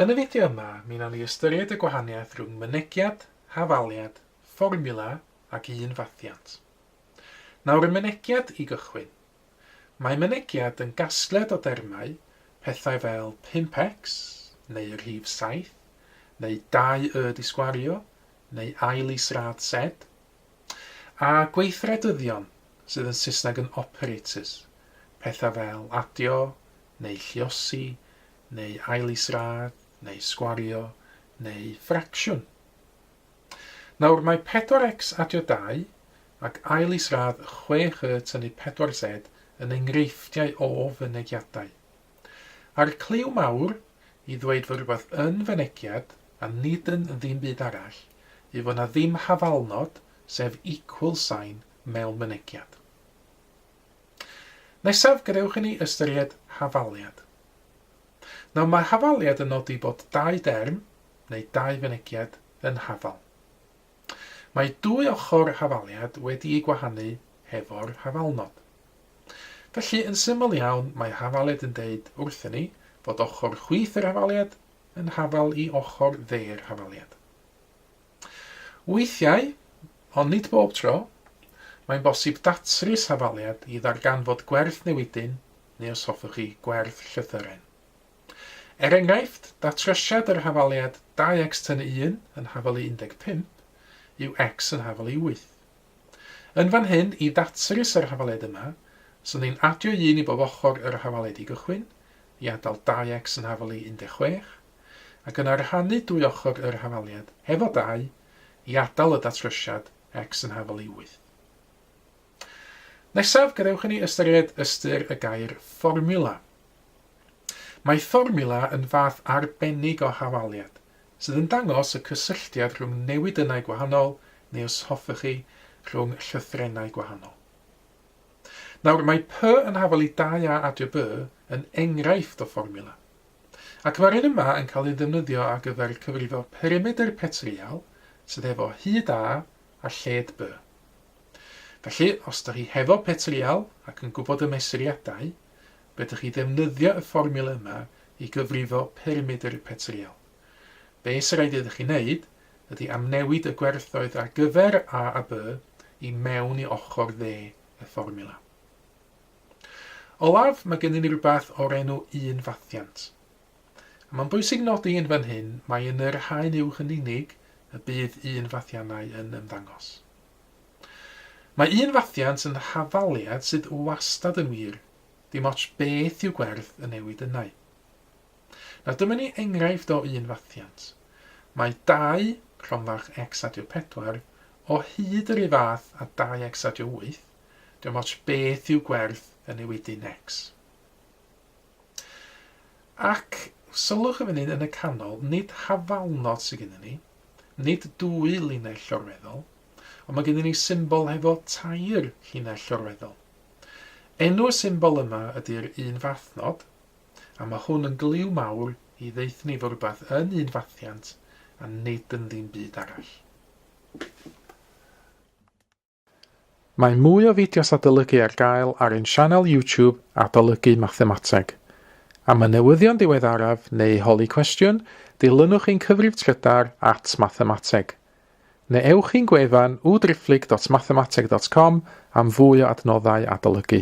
Yn y fideo yma, mi wnawn ni ystyried y gwahaniaeth rhwng mynegiad, hafaliad, fformiwla ac un fathiant. Nawr y mynegiad i gychwyn. Mae mynegiad yn gasgliad o dermau, pethau fel 5x, neu y rhif 7, neu 2y disgwario, neu ail is-radd Z, a gweithredyddion, sydd yn Saesneg yn operators, pethau fel adio, neu lluosi, neu ailisradd, neu sgwario, neu ffracsiwn. Nawr mae 4x adio 2 ac ailisradd 6y tynnu 4z yn enghreifftiau o fynegiadau. A'r cliw mawr i ddweud fod rhywbeth yn fynegiad a nid yn ddim byd arall yw fod 'na ddim hafalnod, sef equal sign, mewn mynegiad. Nesaf gadewch i ni ystyried hafaliad. Nawr mae hafaliad yn nodi bod dau derm, neu dau fynegiad, yn hafal. Mae dwy ochr hafaliad wedi'u gwahanu hefo'r hafalnod. Felly, yn syml iawn, mae hafaliad yn deud wrthyn ni fod ochr chwith yr hafaliad yn hafal i ochr dde'r hafaliad. Weithiau, ond nid bob tro, mae'n bosib datrys hafaliad i ddarganfod gwerth newidyn neu os hoffech chi, gwerth llythyren. Er enghraifft, datrosiad yr hafaliad 2x tynnu 1 yn hafalu 15 yw x yn hafalu 8. Yn fan hyn, i ddatrys yr hafaliad yma, swn i'n adio 1 i bob ochr yr hafaliad i gychwyn, i adael 2x yn hafalu 16, ac yna rhannu dwy ochr yr hafaliad, hefo dau, i atal y datrysiad X yn hafal i wyth. Nesaf, gadewch i ni ystyried ystyr y gair fformiwla. Mae fformiwla yn fath arbennig o hafaliad, sydd yn dangos y cysylltiad rhwng newidynnau gwahanol, neu os hoffech chi, rhwng llythrennau gwahanol. Nawr, mae P yn hafal i 2A adio B yn enghraifft o fformiwla. ac mae'r un yma yn cael ei ddefnyddio ar gyfer cyfrifo perimedr petryal sydd hefo hyd A a lled B. Felly, os ydych chi hefo petryal ac yn gwybod y mesuriadau, fedrwch chi ddefnyddio y fformiwla yma i gyfrifo perimedr y petryal. Be sy'n rhaid iddo chi wneud ydy amnewid y gwerthoedd ar gyfer A a B i mewn i ochr dde y fformiwla. Olaf, mae gennym ni rywbeth o'r enw un fathiant. A mae'n bwysig nodi yn fan hyn mai yn yr haen uwch yn unig y bydd un fathiannau yn ymddangos. Mae un fathiant yn hafaliad sydd wastad yn wir, dim ots beth yw gwerth y newid ynnau. Nawr dyma ni enghraifft o un fathiant. Mae 2, rhomfach x adio 4, o hyd yr un fath a 2x adio 8, Dim ots beth yw gwerth y newidyn X. Ac, sylwch i fan hyn yn y canol, nid hafalnod sydd gennym ni, nid dwy linell llorweddol, ond mae gennym ni symbol hefo tair llinell llorweddol. Enw y symbol yma ydy'r un fathnod, a mae hwn yn glyw mawr i ddeuthnu fod rhywbeth yn un fathiant a nid yn ddim byd arall. Mae mwy o fideos adolygu ar gael ar ein sianel YouTube Adolygu Mathemateg. Am y newyddion diweddaraf neu holi cwestiwn, dilynwch ein cyfrif trydar at Mathemateg. Neu ewch i'n gwefan www.driphlyg.mathemateg.com am fwy o adnoddau adolygu.